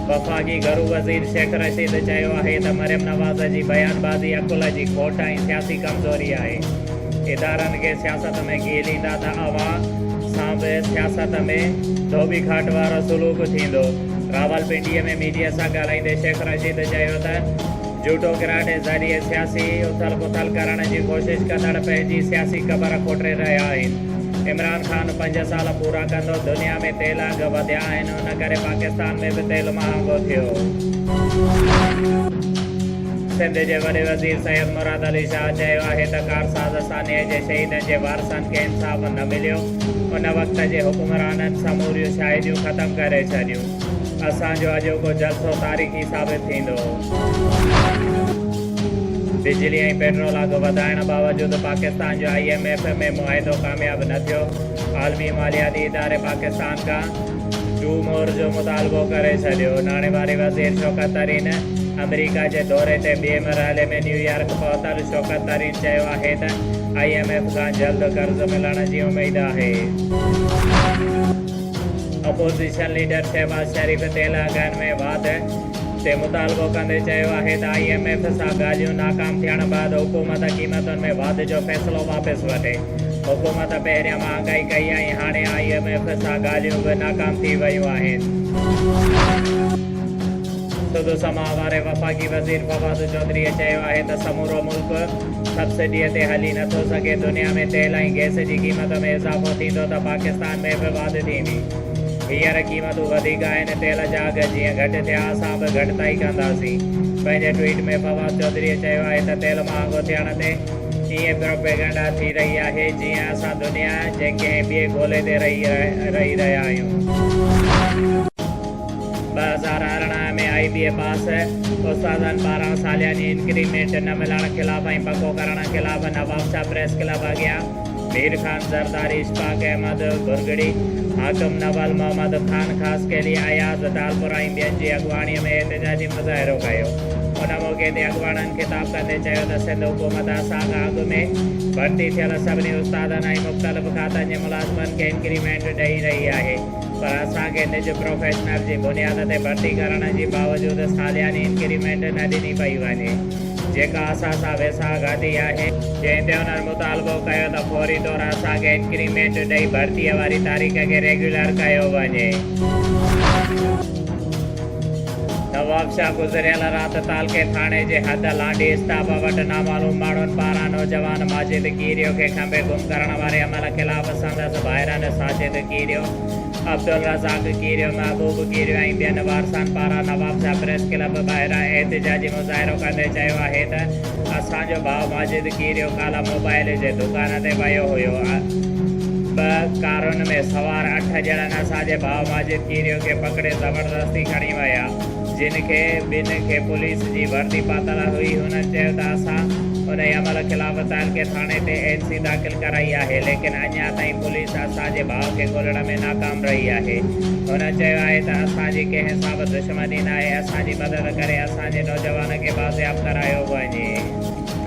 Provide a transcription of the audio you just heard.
وفاقي گهرو وزير شيخ رشيد چيو آهي ته مريم نواز جي بيان بازي عقل جي کوٽ ۽ سياسي ڪمزوري آهي، ادارن کي سياست ۾ گهيليندا ته اوهان سان به سياست ۾ ڌوٻي کاٽ وارو سلوڪ ٿيندو، راولپنڊي ۾ ميڊيا سان ڳالهائيندي شيخ رشيد چيو ته. جهوٽو گراٽ جي ذريعي سياسي اٿل پٿل ڪرڻ جي ڪوشش ڪندڙ پنهنجي سياسي قبر کوٽي رهيا آهن، عمران خان پنج سال پورا ڪندو، دنيا ۾ تيل اگهه وڌيا آهن ان ڪري پاڪستان ۾ به تيل مهانگو ٿيو. سنڌ جي وڏي وزير سيد مراد علي شاهه چيو آهي ته ڪارساز سانحي جي شهيدن جي وارثن کي انصاف نه مليو، ان وقت جي حڪمرانن سموريون شاهديون ختم ڪري ڇڏيون، اسان جو اڄوڪو جلسو تاريخي ثابت ٿيندو. بجلي ۽ پيٽرول اگهه وڌائڻ باوجود پاڪستان جو آء ايم ايف ۾ معاهدو ڪامياب نه ٿيو، عالمي مالياتي اداري پاڪستان کان ٽو مور جو مطالبو ڪري ڇڏيو، ناڻي واري وزير شوڪت ترين آمريڪا جي دوري تي ٻئي مرحلي ۾ نيويارڪ پهتل، شوڪت ترين چيو آهي ته آء ايم ايف کان جلد قرض ملڻ جي اميد آهي. اپوزيشن ليڊر شهباز شريف تيل اگهن ۾ واڌ، تي مطالبو ڪندي چيو آهي ته آء ايم ايف سان ڳالهيون ناڪام ٿيڻ بعد حڪومت قيمتن ۾ واڌ جو فيصلو واپس وٺي. حڪومت پهريان مهانگائي ڪئي ۽ هاڻي آء ايم ايف سان ڳالهيون به ناڪام ٿي ويون آهن. سڌو سماء واري وفاقي وزير فواد چوڌريء چيو آهي ته سمورو ملڪ سبسڊيء تي هلي نٿو سگهي، دنيا ۾ تيل ۽ گئس جي قيمت ۾ اضافو ٿيندو ته پاڪستان ۾ به واڌ ٿيندي. هينئر قيمتون وڌيڪ آهن، تيل جا اگهه جيئن گهٽ ٿيا اسان به گهٽتائي ڪنداسين. پنهنجي ٽوئيٽ ۾ فواد چوڌريء چيو آهي ته تيل مهانگو ٿيڻ تي ائين پروپيگنڊا ٿي رهي آهي جيئن اسان دنيا جي ڪنهن ٻئي گولي تي رهي رهي رهيا آهيون. ٻه هزار ارڙهن ۾ آئي بي اي پاس استادن پاران سالياني انڪريمينٽ نه ملڻ خلاف ۽ پڪو ڪرڻ خلاف نوابشاهه پريس ڪلب اڳيان مير خان زرداري، اشفاق احمد ڀرڳڙي، حاڪم نول محمد، خان خاصخيلي، اياز ٽالپر ۽ ٻين جي اڳواڻي ۾ احتجاجي مظاهرو ڪيو. ان موقعي تي اڳواڻن خطاب ڪندي چيو ته سنڌ حڪومت اسان کان اڳ ۾ ڀرتي ٿيل سڀني استادن ۽ مختلف کاتن جي ملازمن کي انڪريمينٽ ڏئي رهي آهي. پر اسان کي نج پروفيشنل جي بنياد تي ڀرتي ڪرڻ جي باوجود سالياني انڪريمينٽ نه ڏني پئي وڃي جيڪا اسان سان ويساهه گهاتي آهي. جنهن تي انهن مطالبو ڪيو ته فوري طور اسان کي انڪريمينٽ ڏئي ڀرتي واري تاريخ کي ريگيولر ڪيو وڃي. نوابشاهه گذريل رات تعلقي ٿاڻي جي حد لانڍي اسٽاپ وٽ نامعلوم ماڻهن پاران نوجوان ماجد ڪيريو کي کنڀي گم ڪرڻ واري عمل خلاف سندس ڀائرن ساجد ڪيريو، عبدالرزاق ڪيريو، محبوب ڪيريو ۽ ٻين وارثن پاران نوابشاهه پريس ڪلب ٻاهران احتجاجي مظاهرو ڪندي چيو آهي ته، اسان جو ڀاء ماجد ڪيريو ڪالهه موبائيل جي دڪان تي ويو هيو. ٻه ڪارن ۾ سوار اٺ ڄڻن اسان جي ڀاء ماجد ڪيريو کي پڪڙي زبردستي کڻي ويا، جن کي ٻن کي پوليس جي وردي پاتل هئي، هنن چيو ته اسان انهي عمل خلاف تعلقي ٿاڻي تي اين سي داخل ڪرائي آهي، ليڪن اڃا تائين پوليس اسان جي ڀاء کي ڳولڻ ۾ ناڪام رهي آهي، هنن چيو آهي ته اسان جي ڪنهن سان به دشمني مدينه آهي اسان جي مدد ڪري اسان جي نوجوانن کي بازياب ڪرايو وڃي.